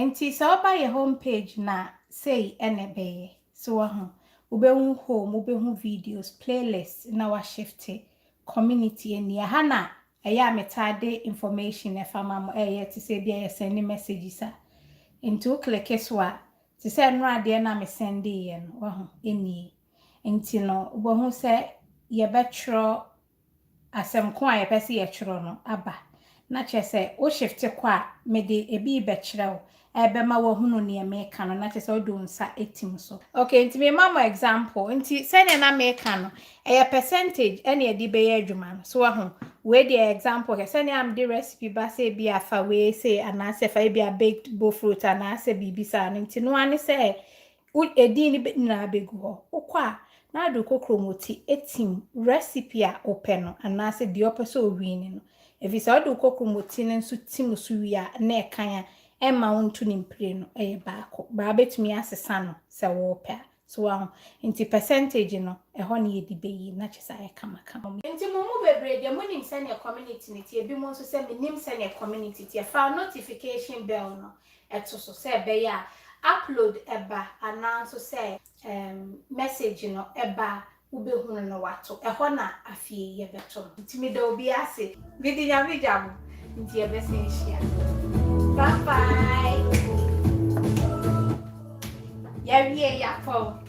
Nti sɛ woba yɛ home page no a, sei na ɛbɛyɛ. So wahu? Wobɛhu home, wobɛhu videos, playlist na washifte community ni. Ɛha na Ɛyɛ a metaa de information ɛfa ma mo ɛyɛ te sɛ ebia yɛ sɛnde messages a nti wo kleke so a te sɛ ɛnora deɛ na me sɛndee yɛ no wahu ɛnie nti no wobɛhu sɛ yɛbɛtwerɛ asɛm ko a yɛpɛ sɛ yɛtwerɛ no aba na kyerɛ sɛ wo shifte kɔ a mede ɛbi rebɛkyerɛ wo Ɛbɛma wahunu neɛ meka no na kyerɛ sɛ wode wo nsa atim so. Ok nti mema mo example nti sɛdeɛ na meka no ɛyɛ percentage ɛne ɛde bɛyɛ adwuma no so wahu wei deɛ example hwɛ sɛdeɛ a mede recipe ba sɛ ebi afa wei sei anaasɛ fa ebi a baked bofrot anaasɛ biribi saa no nti noa ne sɛ Wo edin no be nyinaa begu hɔ. Wokɔ a, na ade kokoro mu ti tim recipe a wopɛ no anaase deɛ wopɛ sɛ owini no. Efisɛ wode wo kokoro mu ti no nso tim so wie a, na ɛkan a ɛmma wo nto ne mpire no yɛ baako. Baa wobɛtumi asesa no sɛ wopɛ a. So woaho? Nti percentage no, ɛhɔ na yɛde bɛyi na kyerɛ sɛ ayɛ kamakama. Nti mo mu bebree deɛ monim sɛdeɛ community no teɛ, binom nso sɛ mennim sɛdeɛ community teɛ. Fa notification bell no ɛto so sɛ ɛbɛyɛ a upload ba anaa nso sɛ message no ba a wobɛhunu no wato, ɛhɔ na afei yɛbɛto no. Nti meda obiara ase. Mede Nyame gya mo nti yɛbɛsan ahyia. Bye bye. Yɛawie yɛakɔ.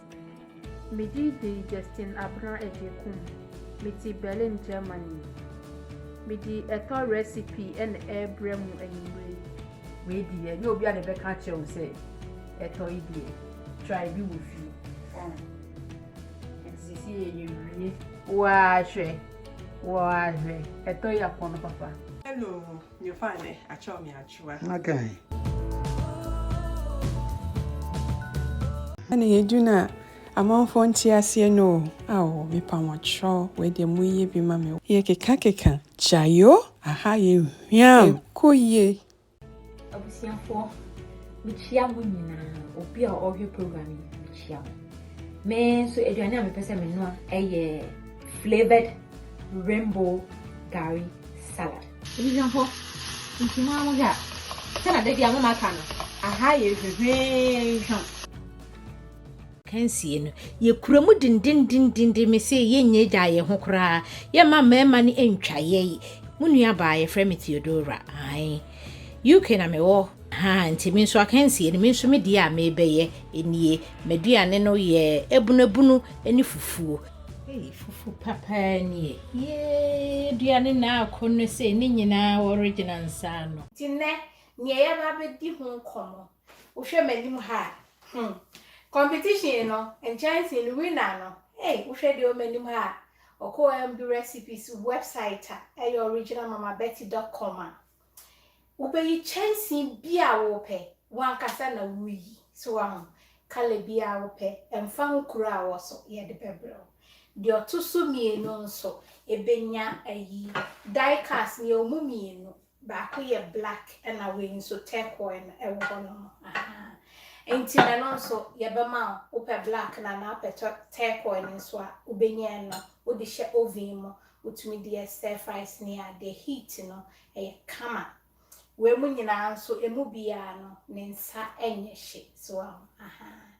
Me din de Justin Abena Agyekum, me te Berlin, Germany. Me de ɛtɔ recipe na ɛrebrɛ mo anwummere yi. Wei deɛ ɛnyɛ obi a na ɛbɛka akyerɛ wo sɛ ɛtɔ yi deɛ try bi wɔ fie oh ɛnti sisi yɛ yɛ wie. Woaa hwɛ woaa hwɛ ɛtɔ yi apɔn papa. Hello Nyefaa nɛ akyɛw me akyewa. Na kan. Ɛna yɛdu no a amanfoɔ nte aseɛ no o Ao me pamɔkyerɛ o wei deɛ mo yɛ bi ma me o. Yɛ keka keka gyae o aha yɛ hwiam. Ɛkɔ yie. Abusuafoɔ mekyia mo nyinaa obi a ɔhwɛ program yi mekyia mo me nso aduane a mepɛ sɛ menoa ɛyɛ flavoured rainbow gari salad. Abusuafo, nti mo ara mohwɛ a, sɛnea da biara moma ka no, aha yɛ hwehwee. Akansie no, yɛkura mu dendendenden, mese yɛnnya gyaa yɛn ho koraa, yɛmma mmarima no ntwa yɛn. Mo nuabaa, yɛfrɛ me Theodora, ae. UK na mewɔ, ha nti me nso akansie no, me nso me deɛ a merebɛyɛ nie. M'aduane no yɛ abunabunu ne fufuo. Ei fufu papaa nie. Yee aduane na ako no sei ne nyinaa wɔregyina nsa ano. Nti nnɛ neɛ yɛba abɛdi ho nkɔmmɔ. Wohwɛ m'anim ha a, hmm, competition no, nkyɛnsee no winner no, ei wohwɛ deɛ ɔwɔ m'anim ha a, ɔkɔɔ MBRecipes website a ɛyɛ original mama betty dot com a, Wobeyi kyɛnsee bi a wopɛ, w'ankasa na wuyi. So woahu? Kala bi a wopɛ, ɛmfa ho kuro a wowɔ so, yɛde bɛbrɛ wo. Deɛ ɔto so mmienu nso, ebenya ayi. Die cast no, yɛwɔ mu mmienu. Baako yɛ black, ɛna wei nso turquoise no ɛwɔ hɔnom. Ahaa. Enti no ɛno nso, yɛbɛma wo. Wopɛ black no anaa wopɛ turquoise no nso a, wobenya ɛno. Wode hyɛ oven mu Wotumi de yɛ stir fries ne ade. Heat no, ɛyɛ kama. Wei mu nyinaa nso, ɛmu biara no, ne nsa nyɛ hye. So woahu? Ahaa.